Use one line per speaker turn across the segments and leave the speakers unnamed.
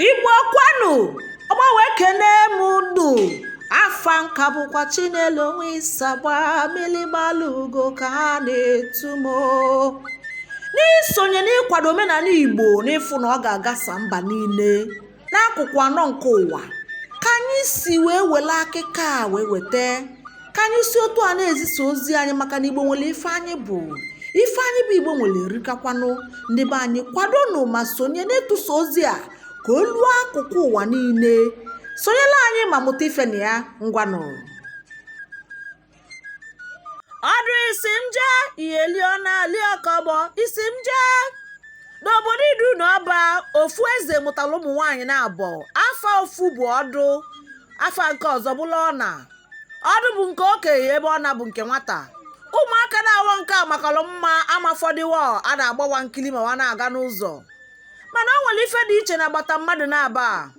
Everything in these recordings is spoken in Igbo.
igbo kwanu ọgba wee kenee m unu afa nka bụkwa chinelo onwe isagba milimalugo ka ha na-etu m n'isonye n'ịkwado omenala igbo n'ịfụ na ọ ga-agasa mba niile n'akụkụ anọ nke ụwa ka anyị si wee wele akịkọ a wee weta ka anyị si otu a na-ezisa ozi anyị maka na igbo nwere ife anyị bụ ife anyị bụ igbo nwere erikakwanụ ndị be anyị kwadonụ ma sonye n'ịtụsa ozi a ka o luo akụkụ ụwa niile sonyelu anyị ma mụta ife na ya ngwanụ ọdụ isi m jee ihe lio na liokọbọ isi m jee n'obodo idu na ọba ofu eze mụtara ụmụ nwaanyị naabọ afa ofu bụ ọdụ afa nke ọzọ bụlụ ọna ọdụ bụ nke okenye ebe ọna bụ nke nwata ụmụaka naabọ nke a makalụ mma amafọdịwa a na-agba wa nkili ma wa na-aga n'ụzọ mana o nwere ife dị iche na agbata mmadụ naabọ a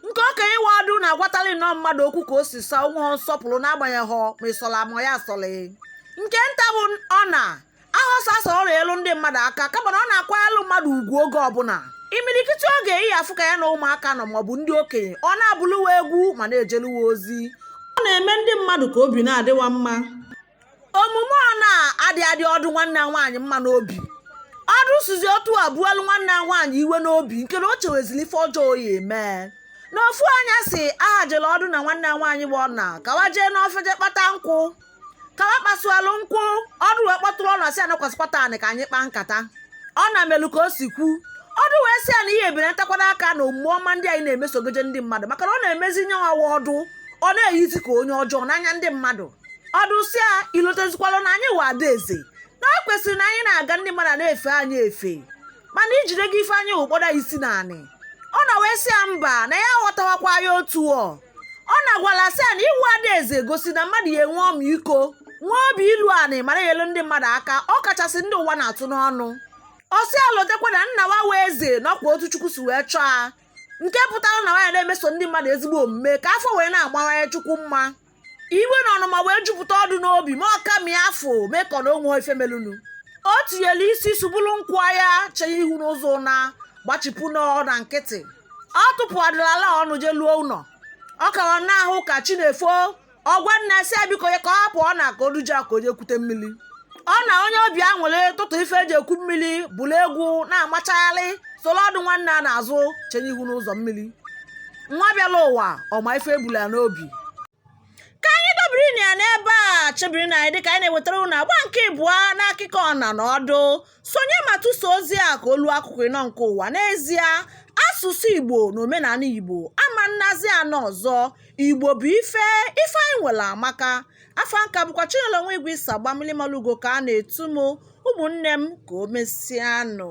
nke okenye wụ ọdụ na-agwatali nnọọ mmadụ okwu ka o si sọ a o nwehọ nsọpụrụ n'agbanyehọ ma ịsọla ma ya asọlị nke nta bụ ọna ahọ sọsọ ọ na-enyelu ndị mmadụ aka kama na ọ na-akwanyelu mmadụ ugwu oge ọbụla imirikiti oge ị ya-afụ ka ya na ụmụaka nọ maọbụ ndị okenye ọ na-abụlụ wa egwu ma na-ejelu wa ozi ọ na-eme ndị mmadụ ka obi na-adị wa mma omume ọna adị adị ọdụ nwanne ya nwaanyị mma n'obi ọdụ sizi otu a buelu nwanne ya nwaanyị iwe n'obi nke na o chewezili ife ọjọọ ọ ya-eme n'ofu anyasị aha jele ọdụ na nwanne ya nwaanyị bụ ọna ka wa jee n'ọfịa je kpata nkwụ ka wa kpasualụ nkwụ ọdụ wee kpọtụrụ ọna sị a nọkwasịkwata anị ka anyị kpaa nkata ọna melu ka o si kwu ọdụ wee sị ya na ị ya-ebenatakwalụ aka na omume ọma ndị anyị na-emesogoje ndị mmadụ maka na ọ na-emezi nya wụ ọdụ ọ na-eyizi ka onye ọjọọ n'anya ndị mmadụ ọdụ sị ya i lotezikwalụ na anyị wụ ada eze na o kwesịrị na anyị na-aga ndị mmadụ na-efe anyị efe mana ijide gị ife anyị wụ kpọda isi na anị ọna wee sị ya mba na ya aghọtahọkwa ya otu ọ ọna gwalụ a sị ya na ịwụ adaeze gosi na mmadụ ya-enwe ọmịiko nwee obi ilu anị ma na-enyelu ndị mmadụ aka ọ kachasị ndị ụwa na-atụ n'ọnụ ọ sị ya lotekwa na nna wa wụ eze na ọ kwa otu chukwu si wee chọọ ya nke pụtara na wa ya na-emeso ndị mmadụ ezigbo omume ka afọ wee na-agbawanye chukwu mma iwe na ọnụma wee jupụta ọdụ n'obi ma ọ ka mịa afọ mee ka ọ na o nwehọ ife melunu o tinyelu isi subulu nkwụ ya chee ihu n'ụzọ na gbachipụ nnọọ ọna nkịtị ọ tụpụhọdịlụ a ọnụ je luo ụnọ ọ ka na-awụ ka chi na-efo ọ gwa nna a sị ya biko ya hapụ ọna ka o duje a ka o je kwute mmiri ọna onye obi awele tụtụ ife e ji ekwu mmiri buru egwu na-amachagharị soro ọdụ nwanne a n'azụ chenye ihu n'ụzọ mmiri nwa bịalụ ụwa ọma ife e bulu ya n'obi ka anyị dobirinụ ya n'ebe a chebirinụ anyị dịka anyị na-ewetara ụnụ agba nke ịbụọ n'akụkọ ọna na ọdụ sonye ma tụsa ozi a ka o lu akụkụ ịnọ nke ụwa n'ezie asụsụ igbo na omenanị igbo ama nazi ana ọzọ igbo bụ ife ife anyị nwere amaka afa m ka bụkwa chinelo nwa igwe isagba mmili malugo ka a na-etu m ụmụnne m ka o mesịanụ